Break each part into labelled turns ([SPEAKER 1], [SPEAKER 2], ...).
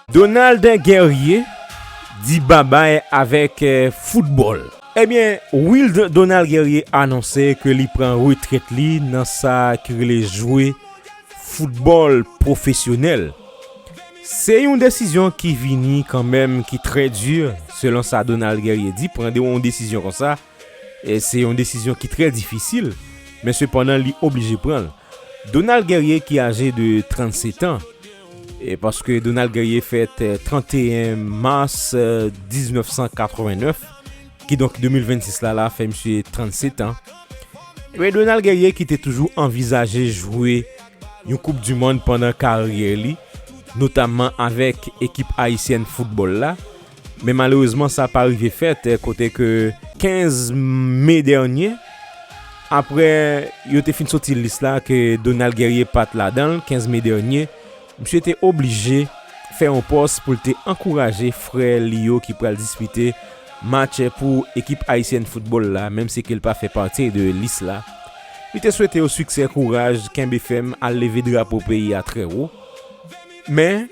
[SPEAKER 1] Donald Guerrier di babay avèk foutbòl. Ebyen Wild Donald Guerrier anonse ke li pran retrèt li nan sa ki rele jwe foutbòl pwofesyonèl. Se yon desizyon ki vini kanmenm ki trè di selon sa Donald Guerrier di pran yon desizyon konsa. Se yon desizyon ki trè difisil, men sepandan li oblije pran l. Donald Guerrier ki aje de 37 an, paske Donald Guerrier fèt 31 mas 1989, kidonk 2026 la la fè misye 37 an. Men Donald Guerrier ki te toujou anvizaje jwe yon koup di mond pandan karyè li, notamman avèk ekip ayisyèn foutbòl la, Men malerezman sa pa rive fèt kote ke 15 me dènye apre yo te fin soti lis la ke Donald Guerrier pat ladan l 15 me dènye misye te oblije fè yon pòs pou l te ankouraje frè li yo ki pral dispite match pou ekip ayisyèn foutbòl la menm si ke l pa fè pati de lis la li te swete yo siksè kouraj kenbe fèm al leve drapo peyi a trè wo. Men,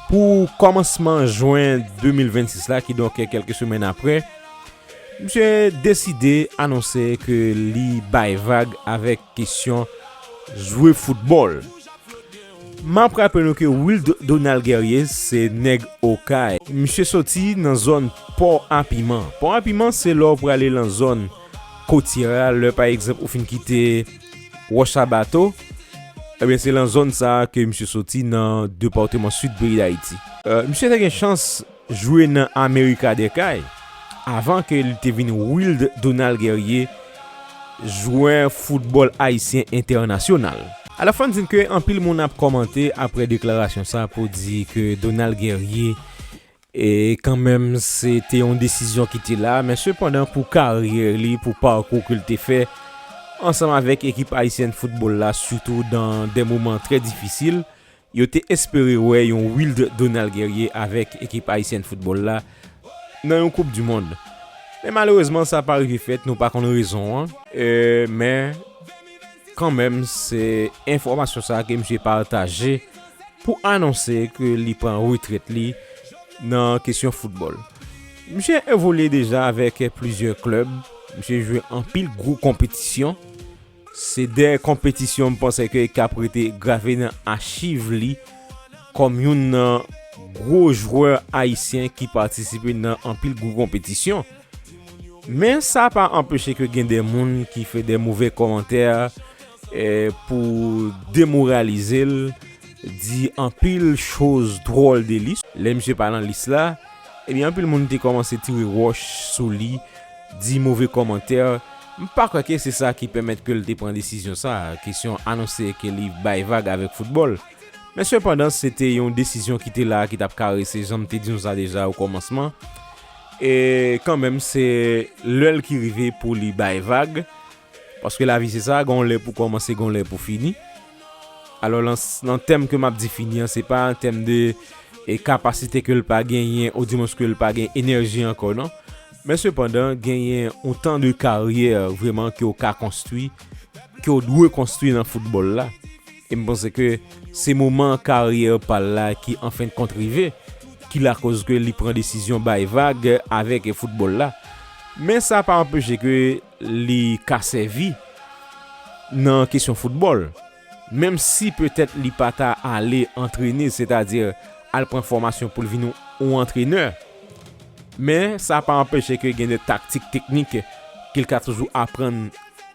[SPEAKER 1] pou kòmansman jwen 2026 la, kidonk kèlke semèn apre, misye deside anonse ke li bay vag avèk kesyon jwe foutbòl. M ap raple nou ke Wilde Donald Guerrier se nèg Okay. Misye soti nan zòn Pò a Piman. Pò a Piman se lè w prale lan zòn. kotyè a, lè pa egzanp ou fin kite Wòch a Bato, ebyen se lan zòn sa a ke misye soti nan departeman Sid peyi Dayiti. Misye te gen chans jwe nan Amerika dè Kay avan ke li te vin Wilde Donald Guerrier, jwè foutbòl ayisyen entènasyonal. Alò fò n di ke anpil moun ap kòmante apre deklarasyon sa pou di ke Donald Guerrier E kanmenm se te yon desizyon ki te la, men sepandan pou karyè li, pou pakou ke l te fè ansanm avèk ekip ayisyèn foutbòl la sitou dan de moman trè difisil, yo te espere wè yon Wilde Donald Guerrier avèk ekip ayisyèn foutbòl la nan yon koup di mond. Men malerezman sa pa rive fèt, nou pa konn rezon an. E men. Kanmenm se enfòmasyon sa ke misye pataje pou anonse ke li pran retrèt li nan kesyon foutbòl. Misye evolye deja avèk plizyè klèb, misye jwe anpil gwo konpetisyon. Se de konpetisyon m panse ke k ap rete grave nan achiv li kòm youn nan gwo jwè ayisyen ki patisipe nan anpil gwo konpetisyon. Men sa pa anpeche ke gen de moun ki fè de move komantè pou demoralize l, di anpil choz dwòl de li. Lè misye pa nan lis la, ebyen anpil moun te komanse tire wòch sou li, di move komantè. M pa kwè ke se sa ki pèmèt ke l te pran desizyon sa, kesyon anonse ke li bay vag avèk foutbòl. Men sepandan se te yon desizyon ki te la, ki t ap karese, jan m te di nou sa deja o kòmansman. E kanmenm se lè l ki rive pou li bay vag, paske lavi se sa, gen yon lè pou kòmanse, gen yon lè pou fini. Alò nan tèm ke m ap di fini an, se pa an tèm de e kapasite ke l pa genyen, ou di mons ke l pa gen enèji ankò non. Men sepandan, genyen yon tan de karyè vreman ke ou ka konstwi, ke ou dwe konstwi nan foutbòl la. E m panse ke se moman karyè pa l la ki anfendkont rive ki lakoz ke li pran desizyon bay vag avèk foutbòl la. Men sa pa anpeche ke li ka sèvi nan kesyon foutbòl. Menm si petèt li pa ta ale antrene, setadi al pran fòmasyon pou l vin yon antrenè. Men sa pa anpeche ke gen de taktik teknik ke l ka toujou aprann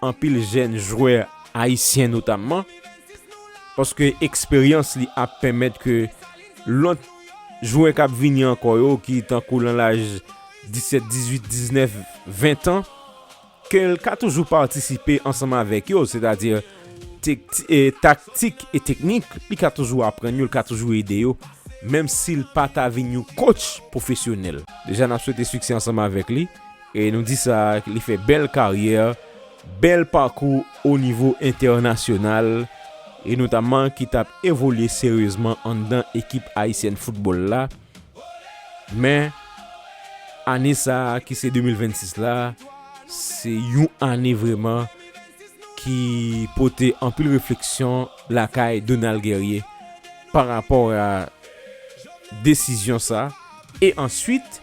[SPEAKER 1] anpil jèn jwè Ayisyen notamman, paske eksperyans li ap pèmèt ke lòt jwè k ap vini ankò yo ki tankou lan laj 17, 18, 19, 20 tan, ke l ka toujou patisipe ansanm avèk yo, sètadi taktik e teknik, li ka toujou aprann yo, li ka toujou ede yo, menm si l pa ta vin yon kotch pwofesyonèl. Deja n ap swete siksè ansanm avèk li, e nou di sa li fè bèl karyè bèl pakou o nivo entènasyonal e notamman ki t ap evolye seryezman anndan ekip ayisyèn foutbòl la men ane sa ki se 2026 la se yon ane vrèman ki pote anpil refleksyon lakay Donald Guerrier parapò a desizyon sa e answit